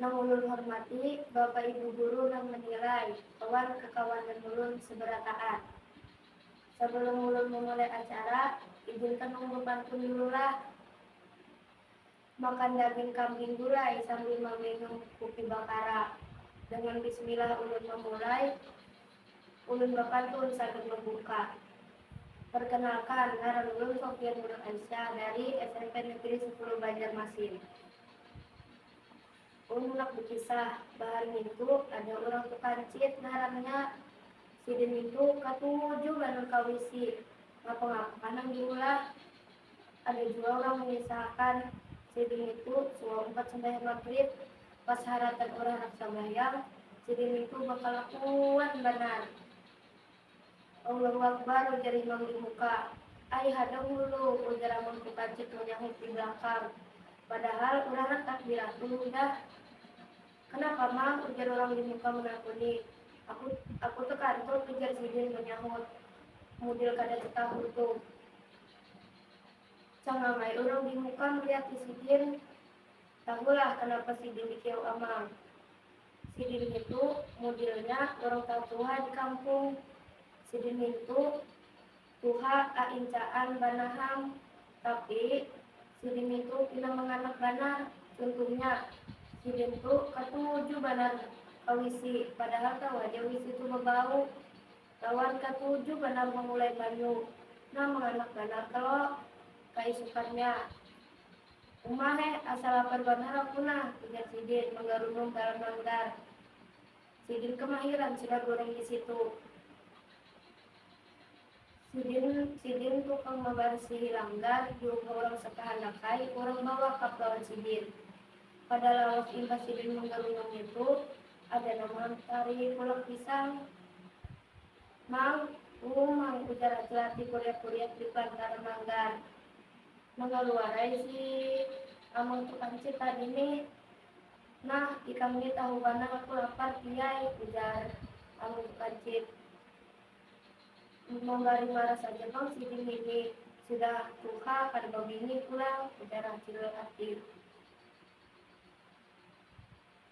Nang ulun hormati, Bapak Ibu Guru nang menilai, wan kakawanan ulun seberataan. Sebelum ulun memulai acara, izinkan nang bepantun dululah. Makan daging kambing gulai sambil meminum kupi bakara. Dengan bismillah ulun memulai. Ulun bapantun sagan mambuka. Perkenalkan, ngaran ulun Sofia Nurul Aisyah dari smp Negeri Sepuluh Banjarmasin. Ulun handak bekisah, bahari nintu ada urang tukancit ngarannya. Sidin nintu katuju banar ka wc. Ngapa-ngapa nang diulah. Ada jua urang mangisaakan, sidin nitu suah umpat sambahyang magrib, pas haratan urang handak sambahyang, sidin nitu bakalakuan banar. Allahu Akbar, ujar imam di muka. Ai hadang hulu, ujar Amun Kukacik manyahut di balakang. Padahal urang handak takbiratul hudah. Kanapa Mang, ujar urang di muka manakuni. Aku, aku tekantut, ujar sidin manyahut mudil kada tetahu tuh. Cangamai urang di muka melihat si sidin, tahulah kanapa sidin dikiyau Amang. Sidin ngitu mudilnya urang tatuha di kampung. Sidin nintu tuha aincaan banar ham, tapi sidin nintu pina manganak banar. Cuntuhnya, sidin tu katuju banar ka wisi, padahal tahu haja wisi tu babau. Lawan katuju banar mamulai banyu. Nah manganak banar kalo kaisukannya. Uma heh, asa lapar banar aku nah, ujar sidin manggarunum dalam langgar. Sidin kamahiran sudah guring di situ. Sidin sidin tukang mabarsihi langgar diupa urang sakahandak ai urang bawakaf lawan sidin. Kada lawas imbah sidin manggarunum nitu, Ada nang mampari pulang pisang. Mang, um, mang, ujar Ajat di kuriak-kuriak di pelantara mangga. Mangaluarai si Amang tu kancit tadi ni. Nah, ikam ni tahu banar aku lapar, Piai, ujar Amang tu kancit. Mambari marah saja pang sidin ngini. Sudah tuha kada babini pulang, ujar Acil Atik.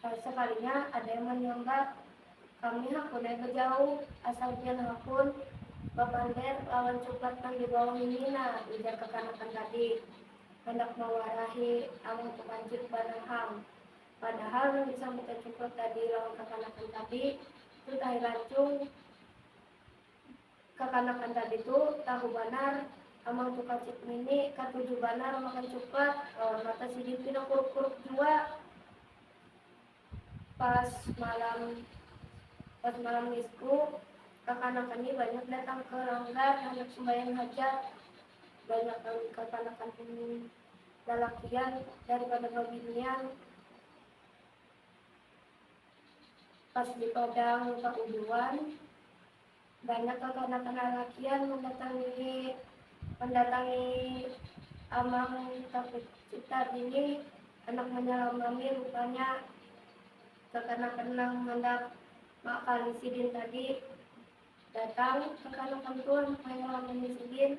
Lalu sakalinya ada yang manyambat, Kami hakun ai bajauh, asal pian hakun bapander lawan cuklat nang di bawah ini nah, ujar kakanakan tadi handak mawarahi Abah Tukancik banaham. Padahal nang disambutan cuklat tadi lawan kakanakan tadi, Tut ai Lancung. kakanakan tadi tu tahu banar Amang Tukacik ngini katuju banar makan cuklat lawan mata sidin pina kuruk-kuruk jua. Pas malam pas malam ngisku kakanakan ni banyak datang ke langgar handak sumbayang hajat. Banyak nang kakanakan ini lalakian daripada babinian. Pas di padang bauduan, banyak kakanak lalakian mandatangi mandatangi Amang Takucitar ini handak manyalamani rupanya kakanakan nang handak maakali sidin tadi. Datang kakanakan tu handak manyalamani sidin.